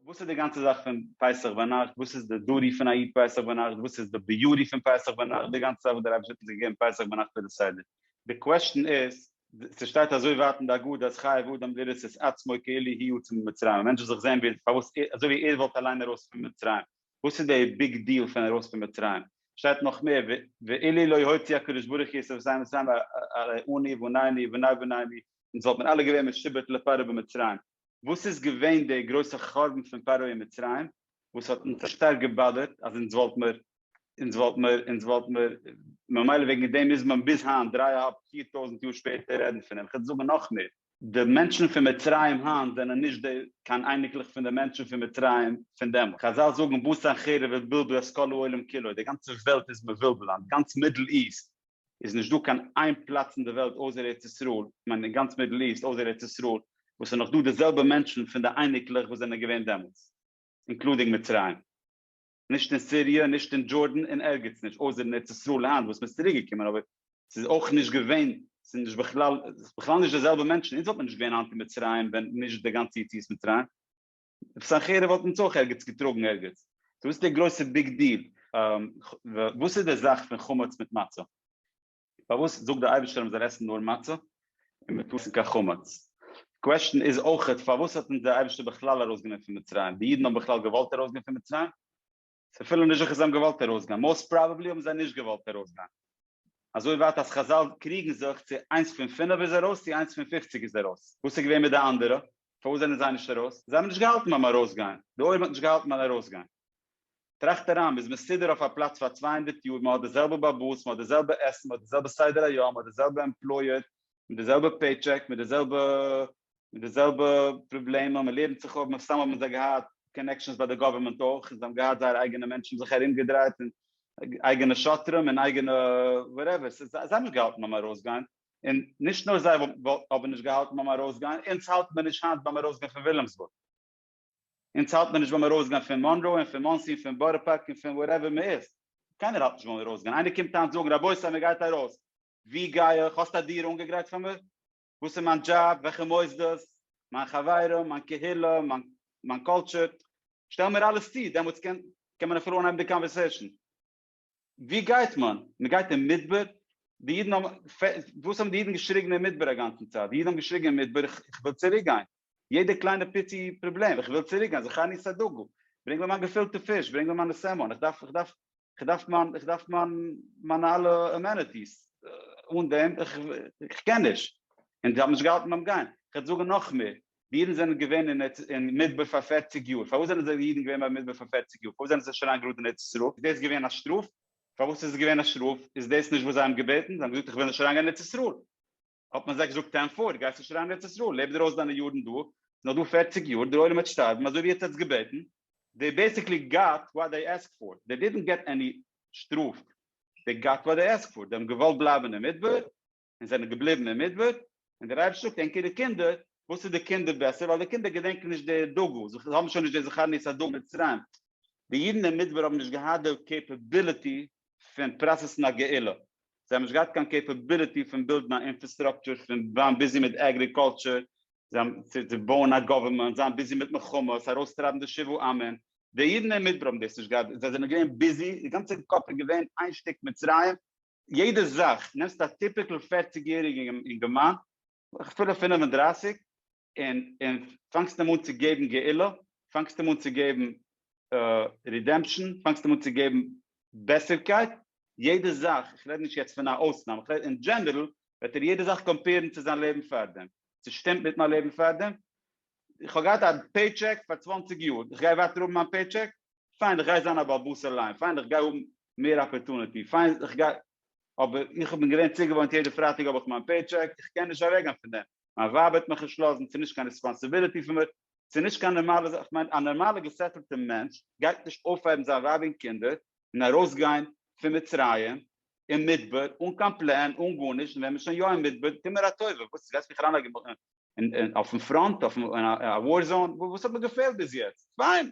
וואס איז די גאנצע זאך פון פסח ביינאכט, וואס איז די דוטי פון א איד פסח ביינאכט, וואס איז די ביוטי פון פסח ביינאכט, די גאנצע זאך וואס דער אייבערשטער האט אונז געגעבן פסח ביינאכט איז די סדר. די קוועשטען איז, ס'שטייט אזוי ווייט אין די הגדה אז חייב אדם לראות את עצמו כאילו הי' יצא ממצרים, א מענטש זאל זיך זען ווי פארוואס ער אזוי ווי ער וואלט אליין ארויס פון מצרים, וואס איז די ביג דיעל פון ארויס פון מצרים, שטייט נאך מער ו ואילו לא הוציא הקדוש ברוך הוא את עבדי מצרים א ר עני ועניני ובני בניי עני, אונז וואלט מען אלע געווען משובט לפרעה במצרים, וואס איז געווען דער גרויסע חורבן פון פרעה אין מצרים וואס האט אונז שטארק געבאדערט אז אונז וואלט מיר אונז וואלט מיר אונז וואלט מיר ממילא וועגן דעם מוז מען ביז היינט דריי אהאלב פיר טויזנט יאר שפעטער רעדן פון אים, כ'וועל זאגן נאך מער. די מענטשן פון מצרים היינט זענען נישט די קיין אייניקלעך פון די מענטשן פון מצרים פון דעמאלט, חזל זאגן בשר חרב ובלבול את כל העולם כולו, די גאנצע וועלט איז מבולבל היינט, גאנץ מידל איסט איז נישט דא קיין איין פלאץ אין די וועלט אויסער ארץ ישראל, איך מיין אין גאנץ מידל איסט אויסער ארץ ישראל, וואס איז נאך דא די זעלבע מענטשן פון די אייניקלעך וואס זענען געווען דעמאלטס, אינקלודינג מצרים. נישט אין סיריע, נישט אין דזשארדן, און ערגעץ נישט, אויסער אין ארץ ישראל היינט וואס מ'איז צוריק געקומען, אבער ס'איז אויך נישט געווען, ס'איז נישט בכלל, ס'איז בכלל נישט די זעלבע מענטשן, אונז וואלט מען נישט געווען היינט אין מצרים ווען נישט די גאנצע יציאת מצרים. עפעס א חרב וואלט אונז אויך ערגעץ געטראגן ערגעץ. סאו וואס איז די גרויסע ביג דיל? וואס איז די זאך פון חמץ מיט מצה? פארוואס זאגט דער אייבערשטער אז מ'זאל עסן נאר מצה און מ'טאר נישט עסן קיין חמץ? די קוועשטען איז אויכעט פארוואס האט אונז דער אייבערשטער בכלל ארויסגענומען פון מצרים? די אידן האבן בכלל געוואלט ארויסגיין פון מצרים? ס'איז אפילו נישט זיכער זיי האבן געוואלט ארויסגיין, מאוסט פראבעבלי האבן זיי נישט געוואלט ארויסגיין. אזוי ווייט אז חז ל קריגן זיך צו איינס פון פינף איז ארויס צו איינס פון פופציג איז ארויס. וואס איז געווען מיט די אנדערע? פארוואס זענען זיי נישט ארויס? זיי האבן נישט געהאלטן ביים ארויסגיין, די עולם האט נישט געהאלטן ביים ארויסגיין. טראכט אריין, מ'איז מסודר אויף א פלאץ פאר צוויי הונדערט יאר, מ'האט די זעלבע באבוס, מ'האט די זעלבע עסן, מ'האט די זעלבע סדר היום, מ'האט די זעלבע עמפלויער, מיט די זעלבע פעי טשעק, מיט די זעלבע מיט די זעלבע פראבלעמען, מען לערנט זיך אפ, מן הסתם האבן זיי געהאט קאנעקשאנס ביי די גאווערמענט אויך, זיי האבן געהאט זייערע אייגענע מענטשן זיך ארום געדרייט, און אייגענע שוטרים, און אייגענע וואטעווער, ס'איז זיי האבן נישט געהאלטן ביים ארויסגיין, און נישט נאר זיי האבן נישט געהאלטן ביים ארויסגיין, אונז האלט מען נישט היינט ביים ארויסגיין פון וויליאמסבורג, אונז האלט מען נישט ביים ארויסגיין פון מאנרא, און פון מאנסי, און פון בארא פארק, און פון וואטעווער מען איז, קיינער האלט נישט ביים ארויסגיין, איינער קומט היינט זאגן רבותי מען גייט ארויס, ווי גיי איך, האסט א דירה אנגעגרייט פאר מיר? וואס איז מיין דזשאב, וועלכע מוסדות, מיין חברים, מיין קהילה, מיין קולטשור, שטעל מיר אלעס צו, דעמאלטס קען מען אפילו אנהייבן די קאנווערסעישאן. ווי גייט מען? מען גייט אין מדבר? די אידן האבן, וואס האבן די אידן געשריגן אין מדבר אגאנצן צייט? די אידן האבן געשריגן אין מדבר איך וויל צוריק גיין. יעדע קליינע פיצי פראבלעם, איך וויל צוריק גיין, זכרני סדגו, ברענג מיר מיין געפילטע פיש, ברענג מיר מיינע סעמאן, איך דארף, איך דארף, איך דארף מיין, איך דארף מיין, מיינע אלע אמענעטיס, אן דעם, איך, איך קען נישט. און זיי האבן נישט געהאלטן ביים גיין. איך וועל זאגן נאך מער, די אידן זענען געווען אין ארץ, אין מדבר פאר פערציג יאר, פארוואס זענען זיי די אידן געווען ביים מדבר פאר פערציג יאר, פארוואס זענען זיי נישט אריין גראד אין ארץ ישראל, איז דאס געווען א שטראף? פארוואס איז עס געווען א שטראף, איז דאס נישט וואס זיי האבן געבעטן, זיי האבן געזאגט איך וויל נישט אריין גיין אין ארץ ישראל. האט מען זיי געזאגט טען פארט גייסט נישט אריין ארץ ישראל לעב דיר אויס דיינע יארן דא נאך דא פערציג יאר דער עולם וועט שטארבן אזוי ווי עטץ האטס געבעטן דעי בעסיקלי גאט וואט דעי עסקט פאר דעי דידנט געט עני שטראף דעי גאט וואט דעי עסקט פאר דעי האבן געוואלט בלייבן אין מדבר און זענען געבליבן אין מדבר און דער אייבערשטער זאגט ענקער די קינדער וואס איז די קינדער בעסער ווייל די קינדער געדענקן נישט די דאגה זיי האבן שוין נישט די זכרון יסדו מצרים די אידן אין מדבר האבן נישט געהאט די קעפעביליטי פון פראסעסן א גאולה, זיי האבן נישט געהאט קיין קעפעביליטי פון בילדן א אינפערסטראקטשער, פון זיין ביזי מיט עגריקולטשער, צו בויען א גאווערמענט, זיין ביזי מיט מלחמות, ארויסטרייבן די שבעה עמים, די אידן אין מדבר האבן דאס נישט געהאט, זיי זענען געווען ביזי, די גאנצע קאפ איז געווען איין שטיק מצרים, יעדע זאך, נעמסט א טיפיקל פערציג יעריגן אינגערמאן, אפילו פינף און דרייסיג, און און פאנגסט אים אן צו געבן גאולה, פאנגסט אים אן צו געבן רידעמפשאן, פאנגסט אים אן צו געבן בעסערקייט, יעדע זאך, איך רעד נישט יעצט פון א אויסנאם, איך רעד אין דזשענערל, וועט ער יעדע זאך קאמפעירן צו זיין לעבן פארדעם, ס'שטימט מיט מיין לעבן פארדעם? איך האב געהאט א פעי טשעק פאר צוואַנציק יאר, איך גיי ווייטער האבן מיין פעי טשעק? פיין איך גיי זיין א בעל בית אליין, פיין איך גיי האבן מער אפערטונעטי, פיין איך גיי, אבער איך בין געווען צוגעוואוינט יעדע פרייטאג האב איך מיין פעי טשעק, איך קען נישט אוועקגיין פון דעם, מיין ווייב האט מיך נישט לאזן, ס'נישט קיין ריספאנסיביליטי פון מיר, ס'נישט קיין נארמאלע זאך, כ'מיין א נארמאלע געסעטלטע מענטש גייט נישט אויפהייבן זיין ווייב און קינדער און ארויסגיין פון מצרים אין מדבר אן קיין פלען אן גארנישט, און ווען מ'איז שוין יא אין מדבר טו מיר א טובה, וואס גייסט מיך אריינלייגן אויפן פראנט, אויף א וואר זאון, וואס האט מיר געפעלט ביז יעצט? פיין!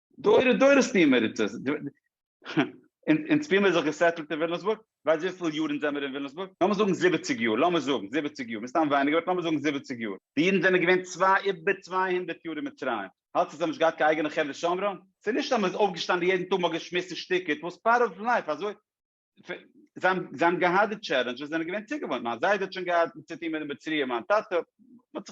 דורי דורות טוען מיר עס, אונז פילן מיר זיך געסעטלט אין וויליאמסבורג, ווייסט וויפיל יאר אונז זעמיר אין וויליאמסבורג? לאמיר זאגן זיבעציג יאר, לאמיר זאגן זיבעציג יאר, מסתם ווייניגער באט לאמיר זאגן זיבעציג יאר, די אידן זענען געווען צוויי איבער צוויי הונדערט יאר אין מצרים, האלטסטו זיי האבן נישט געהאט קיין אייגענע חדר שומרים? ס'איז נישט אז מ'איז אויפגעשטאנען יעדן טאג מ'האט געשמועסט און שטיקעט, וואס פארט אוו לייף אזוי? זיי האבן געהאט די טשעלענדזשעס, זיי זענען געווען צוגעוואוינט, מיין זיידע האט שוין געהאט צו טון מיט די מצריים, מיין טאטע, מען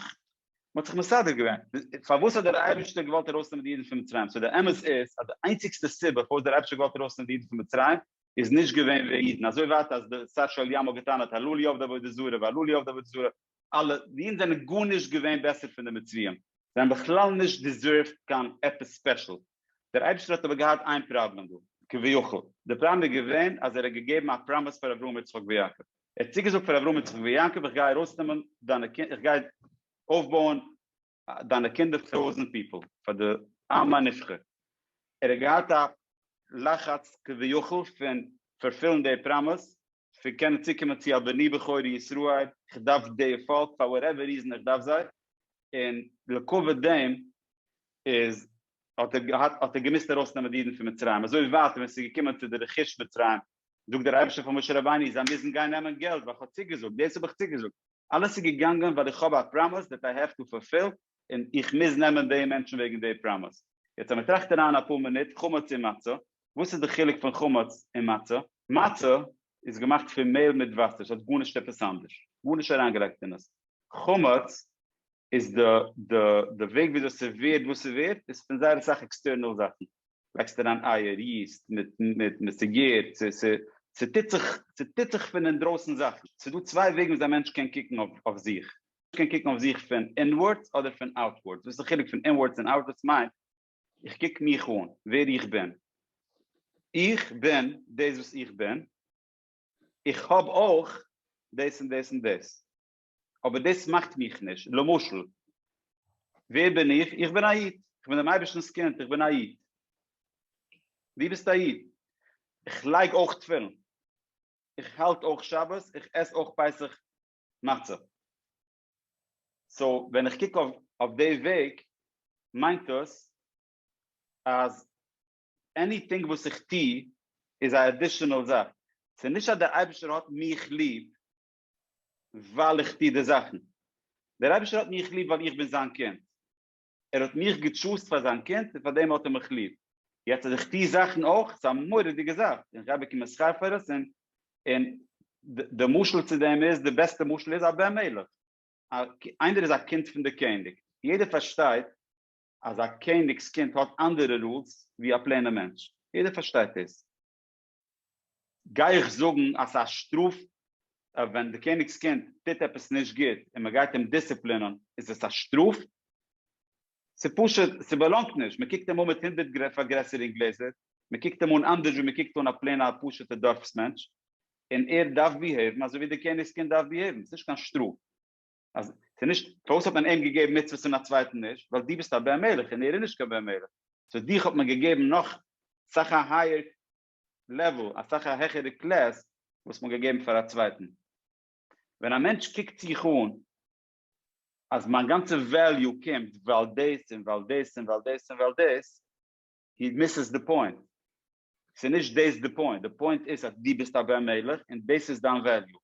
האט זיך מסדר געווען, פארוואס האט דער אייבערשטער געוואלט ארויסנעמען די אידן פון מצרים, סאו דער אמת איז אז די איינציגסטע סיבה פארוואס דער אייבערשטער האט געוואלט ארויסנעמען די אידן פון מצרים איז נישט געווען וועגן אידן, אזוי ווייט אז די שר של ים האט געטענה'ט הלא לי עבדי עבודה זרה והלא לי עבדי עבודה זרה, אלע אידן זענען גארנישט געווען בעסער פון די מצריים, זיי האבן בכלל נישט דיזערווט קיין עפעס ספעשל, דער אייבערשטער האט אבער געהאט איין פראבלעם דא, כביכול. די פראבלעם איז געווען אז ער האט געגעבן א פראמיס פאר אברהם יצחק ויעקב, ער האט צוגעזאגט פאר אברהם יצחק ויעקב איך גיי ארויסנעמען דיינע קינדער, איך גיי אויפבויען דיינע קינדער פאר טויזענט פיפעל פאר די עם הנבחר ער האט געהאט א לחץ כביכול פון פארפילן די פראמעס פון קענען צוקומען צו א בני בכורי ישראל איך דארף די פאלק פאר וואטעווער ריזען איך דארף זיי און לעקאוועט דעם איז האט ער געהאט האט ער געמוזט ארויס נעמען די אידן פון מצרים אזוי ווייט ווען ס'איז געקומען צו די רכוש מצרים זאגט דער אייבערשטער פאר משה רבינו איך זאל מוזן גיין נעמען געלט ווייל איך האב צוגעזאגט, דאס האב איך צוגעזאגט, אלעס איז געגאנגען ווייל איך האב א פראמעס דעט איי העוו טו פארפיל און איך מוז נעמען די מענטשן וועגן די פראמעס. יעצט אז מען טראכט אריין אפאר מינוט, חמץ און מצה, וואס איז די חילוק פון חמץ און מצה? מצה איז געמאכט פון מעהל מיט וואסער, ס'האט גארנישט עפעס אנדערש, גארנישט אריינגעלייגט אין עס, חמץ איז די די די וועג וויאזוי ס'ווערט וואס ס'ווערט איז פון זייער אסאך עקסטערנעל זאכן, לייגסט אריין אייער, ריסט מיט סיגעיט, ס'טוט זיך, ס'טוט זיך פון אינדרויסן זאכן, ס'איז דא צוויי וועגן וויאזוי א מענטש קען קוקן אויף זיך, קען קוקן אויף זיך פון אינווארדס אדער פון אוטווארדס, וואס איז די חילוק פון אינווארדס און אוטווארדס מיינט, איך קוק מיך אן, ווער איך בין, איך בין דאס וואס איך בין, איך האב אויך דאס און דאס און דאס. אבער דאס מאכט מיך נישט, למשל, ווער בין איך? איך בין א איד, איך בין דעם אייבערשטנ'ס קינד, איך בין א איד. דו ביסט א איד, איך לייג אויך תפילין, איך האלט אויך שבת, איך עס אויך פסח מצה. סאו, ווען איך קוק אויף די וועג, מיינט עס אז עניטינג וואס איך טו איז א עדישענעל זאך. ס'נישט אז דער אייבערשטער האט מיך ליב, ווייל איך טו די זאכן. דער אייבערשטער האט מיך ליב ווייל איך בין זיין קינד. ער האט מיך געטשוזט פאר זיין קינד און פארדעם האט ער מיך ליב. יעצט אז איך טו זאכן אויך, ס'איז א מורא'דיגע זאך און כ'גיי באקומען שכר פאר עס און און די משל צו דעם איז, די בעסטע משל איז א בן מלך. איינער איז א קינד פון די קעניג. יעדער פארשטייט אז א קעניג'ס קינד האט אנדערע רולס ווי א פלעינע מענטש. יעדער פארשטייט דאס. גיי איך זאגן אז ס'איז א שטראף אויב ווען די קעניג'ס קינד טוט עפעס נישט גוט און מען גייט אים דיסציפלינען איז עס א שטראף? ס'פשוט ס'באלאנגט נישט, מען קוקט אים אן מיט הונדערט פארגרעסערונג גלעזער, מען קוקט אים אן אנדערש ווי מען קוקט אן א פלעינע א פשוטע דארפס מענטש, און ער דארף ביהעיוון אזוי ווי די קעניג'ס קינד דארף ביהעיוון, ס'נישט קיין שטראף. אז ס'נישט פארוואס האט מען אים געגעבן מצוות און א צווייטן נישט, ווייל דו ביסט א בן מלך און ער איז נישט קיין בן מלך, סאו דיך האט מען געגעבן נאך סאך א הייער לעוועל, אסאך א העכערע קלעס וואס מ'האט געגעבן פאר א צווייטן. ווען א מענטש קוקט זיך אן אז מיין גאנצע וועליו קומט ווייל דאס און ווייל דאס און ווייל דאס און ווייל דאס, הי מיססד די פוינט. ס'איז נישט דאס די פוינט, די פוינט איז אז דו ביסט א בן מלך און דאס איז דיין וועליו.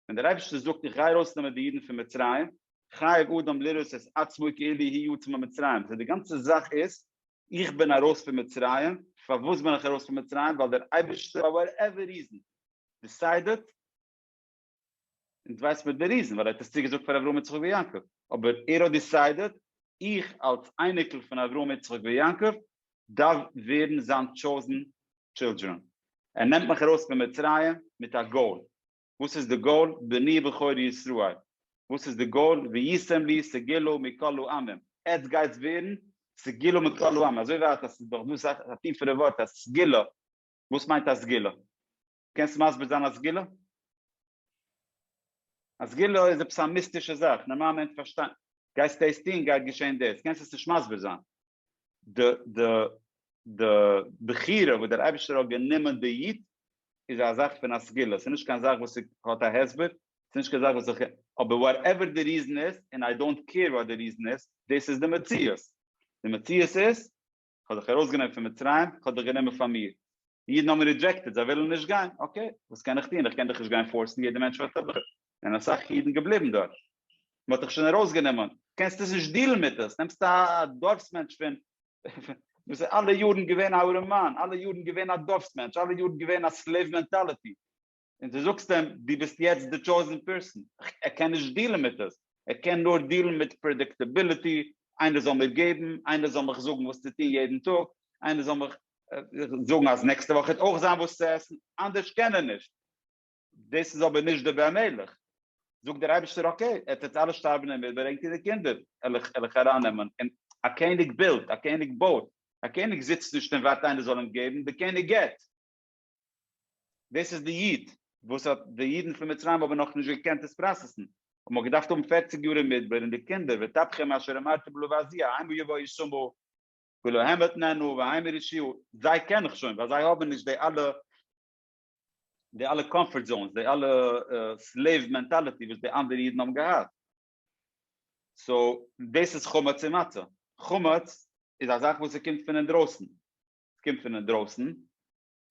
ווען דער אייבערשטער זאגט איך גיי ארויסנעמען די אידן פון מצרים, חייב אדם לראות את עצמו כאילו הוא יצא ממצרים, סאו די גאנצע זאך איז איך בין ארויס פון מצרים, פארוואס בין איך ארויס פון מצרים? ווייל דער אייבערשטער פאר וואטעווער ריזען דיסיידעט, און דו ווייסט מיט די ריזן ווייל ער האט עס צוגעזאגט פאר אברהם יצחק ויעקב, אבער ער האט דיסיידעד איך אלס אייניקל פון אברהם יצחק ויעקב דארף ווערן זיין טשאוזן טשילדרען, ער נעמט מיך ארויס פון מצרים מיט א גאול, וואס איז די גאול? בני בכור ישראל, וואס איז די גאול? וישם לי סגילו מכל העמים, עטס גייטס ווערן סגילו מכל העמים, אזוי ווייט אז ס'איז דאך דא סאך א טיפערע ווארט אז סגילו, וואס מיינט א סגילו? קענסט מסביר זיין א סגולה? א סגולה איז עפעס א מיסטישע זאך, נארמאל מענטש פארשטיין, גייסט דאס טון גייט געשען דאס, קענסט עס נישט מסביר זיין? די די די בחירה וואס דער אייבערשטער האט גענומען די יוט איז א זאך פון א סגולה, ס'איז נישט קיין זאך וואס האט א הסבר, ס'איז נישט קיין זאך וואס איך, אבער וואטעווער די ריזען איז, און איי דאנט קעיר וואט די ריזען איז, דאס איז די מציאות, די מציאות איז כ'האב דיך ארויסגענומען פון מצרים, כ'האב דיך גענומען פאר מיר. די אידן האבן רידזשעקטעד, זיי ווילן נישט גיין, אקעי, וואס קען איך טון, איך קען דיך נישט גיין פארסן, יעדער מענטש וועט אדורך, זענען אסאך אידן געבליבן דארט, מ'האט דיך שוין ארויסגענומען, קענסט עס נישט דילן מיט עס, נעמסט א דארפס מענטש פון, דאס איז אלע יארן געווען א ארעמאן, אלע יארן געווען א דארפס מענטש, אלע יארן געווען א סלעיוו מענטאליטי. און דו זאגסט אים דו ביסט יעצט די טשויזן פערסאן, ער קען נישט דיעלן מיט עס, ער קען נאר דיעלן מיט פרעדיקטעביליטי, איינער זאל מיר געבן, איינער זאל מיך זאגן וואס צו טון יעדן טאג, איינער זאל מיך זאגן אז נעקסטע וואך וועט אויך זיין וואס צו עסן, אנדערש קען ער נישט. דאס איז אבער נישט די בן המלך. זאגט דער אייבערשטער אקעי, עטץ וועט אלע שטארבן און איבערענק איר די קינדער וועל איך ארייננעמען. און א קעניג בילדט, א קעניג בויט, א קעניג זיצט נישט און ווארט איינער זאל אים געבן, די קעניג גיט. דאס איז די איד וואס האט די אידן פון מצרים האבן נאך נישט געקענט עס פראסעסן, און מען האט געדארפט האבן פערציג יאר אין מדבר, און די קינדער ותבחם אשר אמרתי בלא ועשיה האם יבא ישמעו ולא הם יתנענו והאם ירשיעו, זיי קען איך שוין ווייל זיי האבן נישט די אלע די אלע קאמפארט זאונס, די אלע סלעיוו מענטאליטי וואס די אנדערע אידן האבן געהאט, סאו דאס איז חמץ און מצה, חמץ איז א זאך וואס ס'קומט פון אינדרויסן, ס'קומט פון אינדרויסן,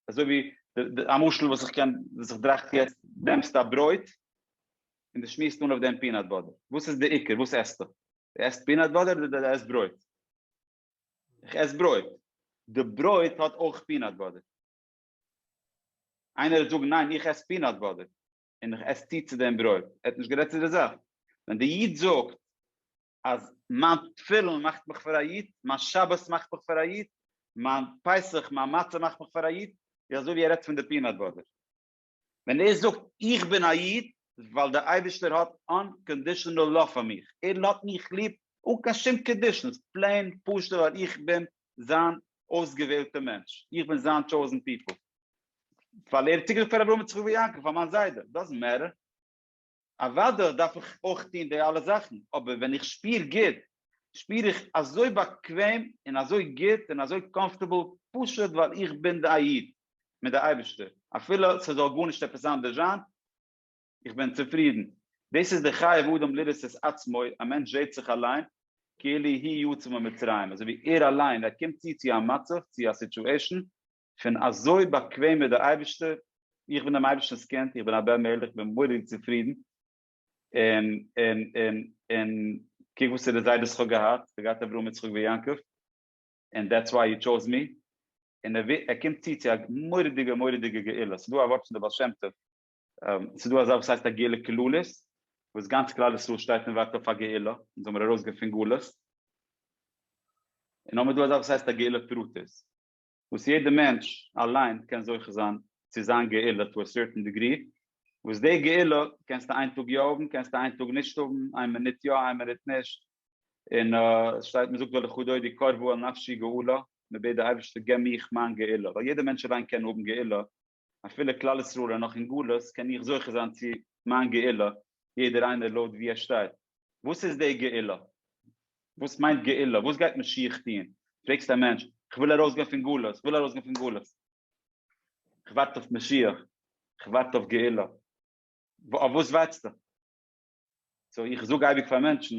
אזוי ווי די א משל וואס איך קען וואס איך דראכט יעצט, נעמסט א ברויט און די שמועסט אן אויף דעם פינאט באדער, וואס איז די עיקר וואס עסטו? די עסט פינאט באדער אדער די עסט ברויט? איך עס ברויט, די ברויט האט אויך פינאט באדער, איינער וועט זאגן ניין איך עס פינאט באדער און איך עס צו צו דעם ברויט, ער האט נישט גערעדט צו די זאך, ווען די איד זאגט אז מיין תפילין מאכט מיך פאר א איד, מיין שבת מאכט מיך פאר א איד, מיין פסח, מיין מצה מאכט מיך פאר א איד, איז אזוי ווי ער רעדט פון די פינאט באדער. ווען ער זאגט איך בין א איד ווייל דער אייבערשטער האט אנקאנדישאנעל לאוו פאר מיך, ער האט מיך ליב אן קיין שום קאנדישאנס, פלעין פשוט ווייל איך בין זיין אויסגעוועלטע מענטש, איך בין זיין טשאוזן פיפל, ווייל ער האט צוגעזאגט פאר אברהם יצחק ויעקב פאר מיין זיידע, דאזענט מעטער. אוודאי דארף איך אויך טון די אלע זאכן, אבער ווען איך שפיר גוט, שפיר איך אזוי באקוועם און אזוי גוט און אזוי קאמפארטעבל פשוט ווייל איך בין א איד מיט די אייבערשטער, אפילו ס'זאל גארנישט עפעס אנדערש זיין, איך בין צופרידן. דאס איז די חייב אדם לראות את עצמו, א מענטש זעט זיך אליין כאילו הוא יצא ממצרים, אזוי ווי ער אליין, ער קומט צו צו א מצב, צו א סיטועשאן, כ'בין אזוי באקוועם מיט דער אייבערשטער, איך בין דעם אייבערשטענ'ס קינד, איך בין א בן מלך, איך בין מורא'דיג צופרידן, און, און, און, און קוק וואסערע זיידעס כ'האב געהאט, כ'האב געהאט אברהם יצחק ויעקב, און דעטס וויי יו טשאוז מי, און ער ווי, ער קומט צו צו א מורא'דיגע מורא'דיגע גאולה, ס'דא א ווארט פון דער בעל שם טוב, ס'דא אזא וואס הייסט א גאולה כללית, וואס גאנץ כלל ישראל שטייט און ווארט אויף א גאולה, אונז האמיר ארויסגעפון גלות, און האמיר דא אזא וואס הייסט א גאולה פרטית. וואס יעדע מענטש אליין קען זוכה זיין צו זיין גאולה טו א סערטען דעגרי, וואס די גאולה קענסטו איין טאג יא האבן קענסטו איין טאג נישט האבן, איין מינוט יא איין מינוט נישט, און עס שטייט מען זאגט ולכו דודי קרבו אל נפשי גאולה, מען בעט די אייבערשטער געב מיך מיין גאולה, ווייל יעדע מענטש אליין קען האבן גאולה, אפילו כלל ישראל איז נאך אין גלות קען איך זוכה זיין צו מיין גאולה, יעדער איינער לויט וואו ער שטייט. וואס איז די גאולה? וואס מיינט גאולה? וואס גייט משיח טון? פרעגסט א מענטש, כ'וויל ארויסגיין פון גלות, כ'וויל ארויסגיין פון גלות. כ'ווארט אויף משיח, כ'ווארט אויף גאולה. אויף וואס ווארטסטו? סאו איך זאג אייביג פאר מענטשן,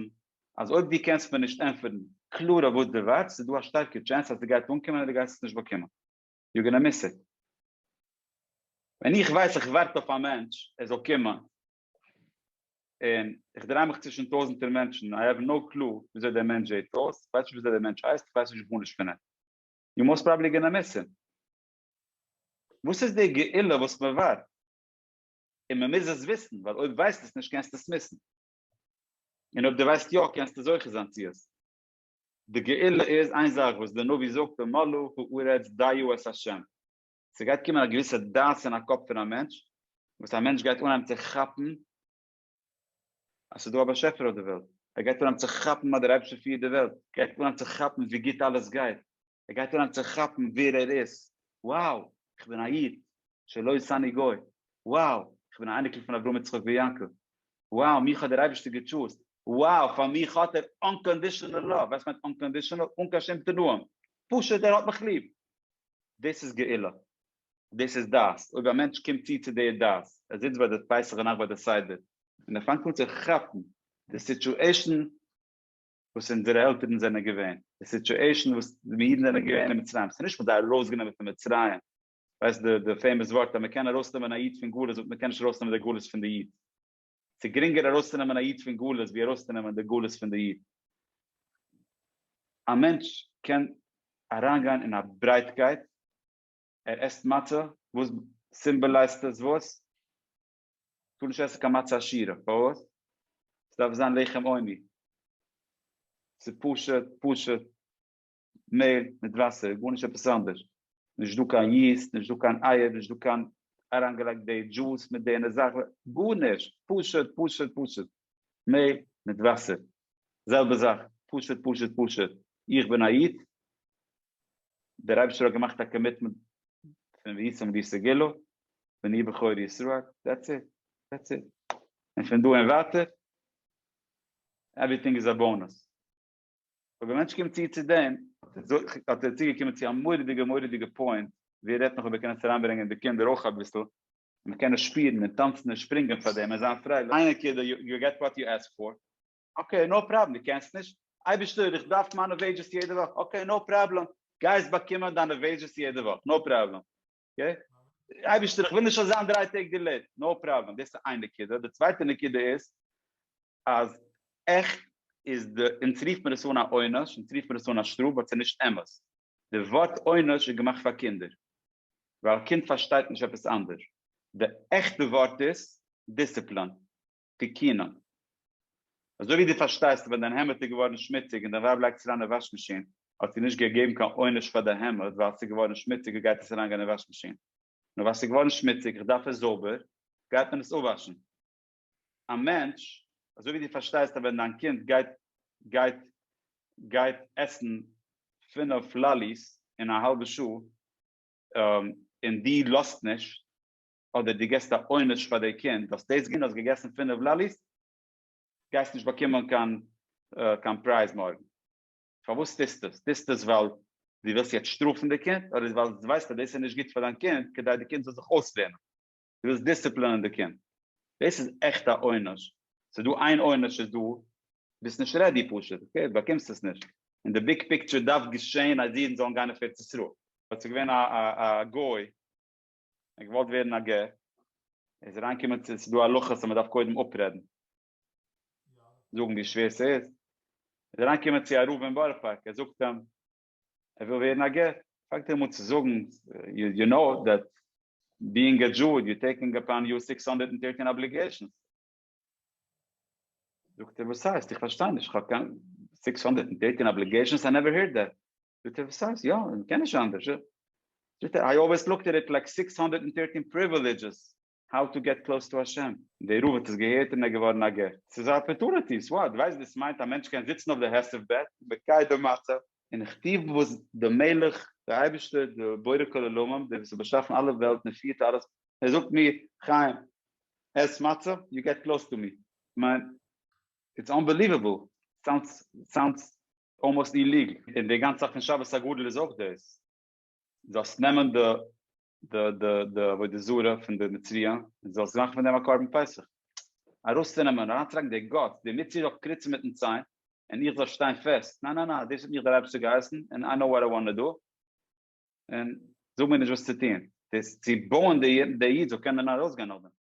אז אויב דו קענסט מיר נישט ענטפערן קלאר אויף וואס דו ווארטסט, איז דא א שטארקע טשענס אז ס'גייט אנקומען אדער גייסט עס נישט באקומען. יו גאנא מיס איט. ווען איך ווייס איך ווארט אויף א מענטש ער זאל קומען, און איך דריי מיך צווישן טויזנטער מענטשן, איי האוו נאו קלו וויאזוי דער מענטש זעהט אויס, איך ווייס נישט וויאזוי דער מענטש הייסט, איך ווייס נישט גארנישט פון אים, יו מאסט פראבעבלי גאנא מיס אים. וואס איז די גאולה וואס מען ווארט? און מען מוז עס וויסן, ווייל אויב ווייסט עס נישט קענסטו עס מיסן, און אויב דו ווייסט יא קענסטו זוכה זיין צו עס. די גאולה איז איין זאך וואס די נביא זאגט ומלאה הארץ דיו את ה', ס'גייט קומען א געוויסע דעת אין א קאפ פון א מענטש, וואס א מענטש גייט אנהייבן צו כאפן אז ס'איז דא א באשעפער אויף די וועלט, ער גייט אנהייבן צו כאפן אז דער אייבערשטער פירט די וועלט, גייט אנהייבן צו כאפן ווי גוט אלעס גייט, ער גייט אריין צו כאפן ווער ער איז, wow איך בין א איד, שלא עשני גוי, wow איך בין א אייניקל פון אברהם יצחק ויעקב, wow מיך האט דער אייבערשטער געטשוזט, wow פאר מיך האט ער אנקאנדישענעל לאוו, ווייסט מיינט אנקאנדישענעל? אן קיין שום תנאים, פשוט ער האט מיך ליב, דאס איז גאולה, דאס איז דעת, אויב א מענטש קומט צו צו די דעת, ער זיצט ביי די פסח נאכט ביי די סדר, און ער פאנגט אן צו כאפן די סיטואשען, וואס אונזערע עלטערן זענען געווען, די סיטועשן וואס די אידן זענען געווען אין מצרים, ס'נישט מ'האט זיי ארויסגענומען פון מצרים, ווייסט די פעימאס ווארט אז מ'קען ארויסנעמען א איד פון גלות באט מ'קען נישט ארויסנעמען די גלות פון די איד, ס'גרינגער ארויסצונעמען א איד פון גלות ווי ארויסצונעמען די גלות פון די איד. א מענטש קען אריינגיין אין א ברייטקייט, ער עסט מצה, וואס סימבעלייזט עס וואס? טאר נישט עסן קיין מצה עשירה, פארוואס? ס'דארף זיין לחם עוני, ס'פשוט פשוט מעל מיט וואסער, גארנישט עפעס אנדערש, נישט דא קיין יעסט, נישט דא קיין אייער, נישט דא קיין אריינגעלייגט די דזשוס מיט די און זאך, גארנישט, פשוט פשוט פשוט מעל מיט וואסער, זעלבע זאך, פשוט פשוט פשוט, איך בין א איד, דער אייבערשטער האט געמאכט א קאמיטמענט פון ויצום לי סגולה, ואני בכור ישראל, דעטס איט, דעטס איט, און פון דא און ווייטער עווריטינג איז א באנוס. אבער ווען א מענטש קומט צו צו דעם, האט ער צוגעקומען צו א מורא'דיגע מורא'דיגע פוינט, ווי ער רעדט נאך איבער קענען עס אריינברענגען די קינדער אויך אביסל, און מען קען עס שפירן און טאנצן און שפרינגען פאר דעם און זיין פרייליך, איינער קידא, יו געט וואט יו עסק פאר, אקעי נאו פראבלעם, דו קענסט נישט? אייבערשטער איך דארף מיינע וועידזשעס יעדע וואך, אקעי נאו פראבלעם, גייסט באקומען דיינע וועידזשעס יעדע וואך, נאו פראבלעם. אקעי? אייבערשטער איך וויל נישט אזאנס דריי טעג דילעיט, נאו פראבלעם, דאס איז איין נקודה, די צווייטע נקודה איז אז עכט איז די, אונז רופט מען עס אן א עונש, אונז רופט מען עס אן א שטראף באט ס'איז נישט אמת, די ווארט עונש איז געמאכט פאר קינדער, ווייל א קינד פארשטייט נישט עפעס אנדערש, די עכטע ווארט איז דיסציפלאן. תיקינון. אזוי ווי דו פארשטייסט ווען דיין העמד איז געווארן שמוציג און דיין ווייב לייגט עס אריין אין וואש מאשין, האט זי נישט געגעבן קיין עונש פאר די העמד ווייל עס איז געווארן שמוציג און גייט עס אריין גיין אין וואש מאשין. נאר ווייל עס איז געווארן שמוציג איך דארף עס זויבער גייט מען עס אפוואשן. א מענטש, אזוי ווי דו פארשטייסט אז ווען דיין קינד גייט גייט גייט עסן פינעף לאליס אין א האלבע שעה און דו לאזט נישט, אדער דו גיבסט א עונש פאר די קינד, האסט דאס געטון, האסט געגעסן פינף לאליס, גייסט נישט באקומען קיין פרייז מארגן. פארוואס טוסטו עס? טוסטו עס ווייל דו ווילסט יעצט שטראפן די קינד, אדער ווייל דו ווייסט אז דאס איז נישט גוט פאר דיין קינד, כדי די קינד זאל זיך אויסלערנען? דו ווילסט דיסציפלינען די קינד. דאס איז עכט א עונש. ס'איז דא איין עונש איז דא, ביסט נישט רעדי פשוט, אקעי, דו באקומסט עס נישט. אין די ביג פיקטשער דארף געשען אז אידן זאלן גיין אויף ארץ ישראל. האט זיך געווען א גוי ער געוואלט ווערן א גר, איז אריין געקומען צו ס'איז דא הלכות אז מ'דארף קודם אפרעדן, זאגן ווי שווער ס'איז, איז אריין געקומען צו א רב אין בארא פארק, ער זאגט אים ער וויל ווערן א גר, פאנגט ער אים אן צו זאגן, יו נאו דעט ביאינג א דזשו יו טעיקינג אפאן יו סיקס הונדערט און טירטין אבליגעישאנס, זאגט ער וואס הייסט? איך פארשטיי נישט, איך האב קיין סיקס הונדערט און טירטין אבליגעישאנס? איי נעווער הערד דעט. זאגט ער וואס הייסט יא איך קען נישט אנדערש איך זאגט ער איי אלוועיס לוקט עט איט לייק סיקס הונדערט און פירטין פריווילידזשעס האו טו געט קלאוס טו השם. די רב האט עס געהערט און ער איז געווארן א גר. ס'איז א אפערטונעטי, סאו וואט? דו ווייסט וואס עס מיינט א מענטש קען זיצן אויף די העשב ב און מקיים די מצב? און כ'טוה וואס די מלך, די אייבערשטער, די בורא כל עולמים, דער וואס האט באשאפן אלע וועלטן און פירט אלעס, ער זאגט מיר, חיים, עס מצה, יו געט קלאוס טו מי. כ'מיין, איטס אנבעליוועבל. סאונדס סאונדס אלמאסט אין ליגט און די גאנצע זאך פון שבת הגדול איז אויך דאס זאלסט נעמען די די די די עבודה זרה פון די מצרי און זאלסט מאכן פון דעם א קרבן פסח ארויסצונעמען און אריינצולייגן די גאט די מצרי זאל קריצן מיטן ציין און איך זאל שטיין פעסט ניין ניין ניין דאס האט מיך דער אייבערשטער געהייסן און איי נאו וואט איי וואנט טו דו און זאג מיר נישט וואס צו טון דאס צו בויען די איד זאל קענען ארויסגיין נאכדעם.